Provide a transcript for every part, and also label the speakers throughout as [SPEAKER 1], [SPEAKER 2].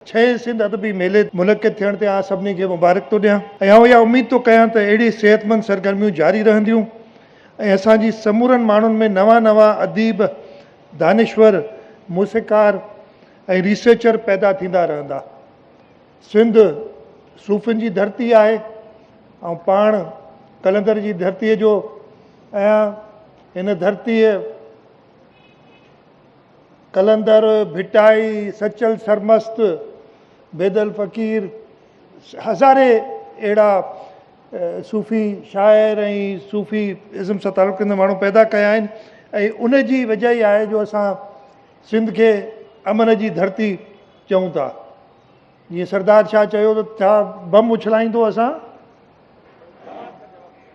[SPEAKER 1] ڇهين سنڌ ادبي ميلي منعقد ٿيڻ تي آء سڀني کي مبارڪ ٿو ڏيان ۽ آئون اها اميد ٿو ڪيان ته اهڙي صحتمند سرگرميون جاري رهنديون ۽ اسان جي سمورن ماڻهن ۾ نوان نوان اديب، دانشور، موسيقار ۽ ريسرچر پيدا ٿيندا رهندا. سنڌ صوفين جي ڌرتي آهي. آئون پاڻ قلندر جي ڌرتيء جو اهيان. هن ڌرتيء. قلندر ڀٽائي، سچل سرمست، بيدل فقير، هزارين اهڙا صوفي شاعر ۽ صوفي ازم سان تعلق رکندڙ ماڻهو پيدا ڪيا آهن ۽ ان جي وجهه ئي آهي جو اسان سنڌ کي امن جي ڌرتي چئون ٿا. جيئن سردار شاهه چيو ته ڇا بم اڇلائيندو اسان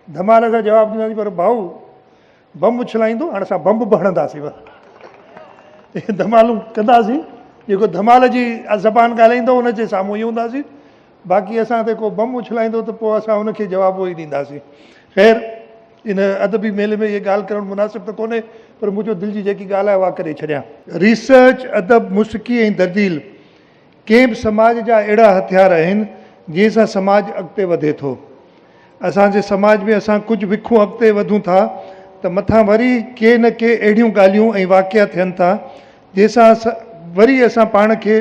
[SPEAKER 1] ڌمال سان جواب ڏينداسين پر ڀائو بمب اڇلائيندو هاڻي اسان بمب به هڻنداسين اهي ڌمالون ڪنداسين جيڪو ڌمال جي زبان ڳالهائيندو ان جي سامهون ئي هونداسين باقي اسان تي ڪو بمب اڇلائيندو ته پوء اسان ان کي جواب اهو ئي ڏينداسين خير ان ادبي ميلي ۾ اهي ڳالهه ڪرڻ مناسب ته ڪونهي پر منهنجو دل جي جيڪي ڳالهه آهي اها ڪري ڇڏيان. ريسرچ، ادب، موسيقي ۽ درديل ڪنهن به سماج جا اهڙا هٿيار آهن جنهن سان سماج اڳتي وڌي ٿو. اسان جي سماج ۾ اسان ڪجهه وکون اڳتي وڌون ٿا ته مٿان وري ڪي نه ڪي اهڙيون ڳالهيون ۽ واقعا ٿين ٿا جنهن سان وري اسان پاڻ کي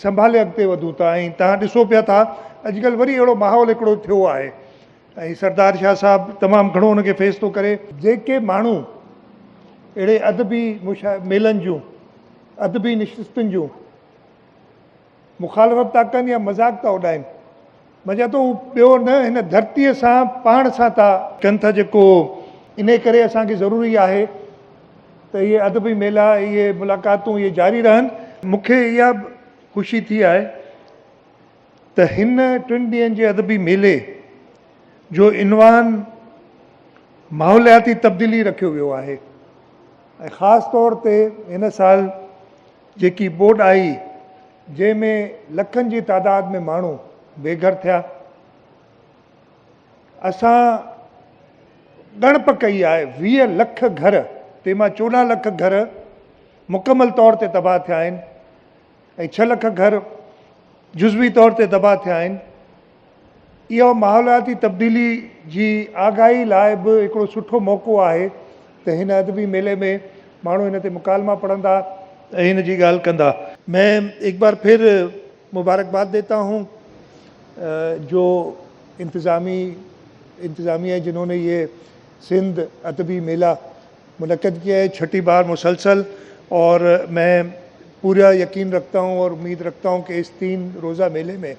[SPEAKER 1] سنڀالي اڳتي وڌون ٿا ۽ تهان ڏسو پيا ٿا اڄڪلهه وري اهڙو ماحول هڪڙو ٿيو آهي ۽ سردار شاهه صاحب تمام گهڻو ان کي فيس ٿو ڪري. جيڪي ماڻهو اهڙي ادبي ميلن جون ادبي نشستن جون مخالفت ٿا ڪن يا مذاق ٿا اڏائن. مجا ته هو ٻيو نه هن ڌرتيء سان پاڻ سان ٿا. ڪن ٿا جيڪو انهيء ڪري اسان کي ضروري آهي ته اهي ادبي ميلا، اهي ملاقاتون اهي جاري رهن. مون کي اها به خوشي ٿي آهي ته هن ٽن ڏينهن جي ادبي ميلي جو عنوان ماحولياتي تبديلي رکيو ويو آهي ۽ خاص طور تي هن سال جيڪي ٻوڏ آئي جنهن ۾ لکن جي تعداد ۾ ماڻهو بيگهر ٿيا. اسان ڳڻپ ڪئي آهي ويهه لک گهر تنهن مان چوڏهن لک گهر مڪمل طور تي تباهه ٿيا آهن ۽ ڇهه لک گهر جزوي طور تي تباهه ٿيا آهن. اهو ماحولياتي تبديلي جي آگاهي لاء به هڪڙو سٺو موقعو آهي ته هن ادبي ميلي ۾ ماڻهو هن تي مڪالما پڙهندا ۽ هن جي ڳالهه ڪندا. مين ايڪ بار ڦر مبارڪباد ديتا هون جو انتظامي انتظاميه جنهون ني يي سنڌ ادبي ميلا منعقد ڪيا هي ڇٽي بار مسلسل اور مين پورا يقين رکتا هون اور اميد رکتا هون ڪي اس تين روزه ميلي مين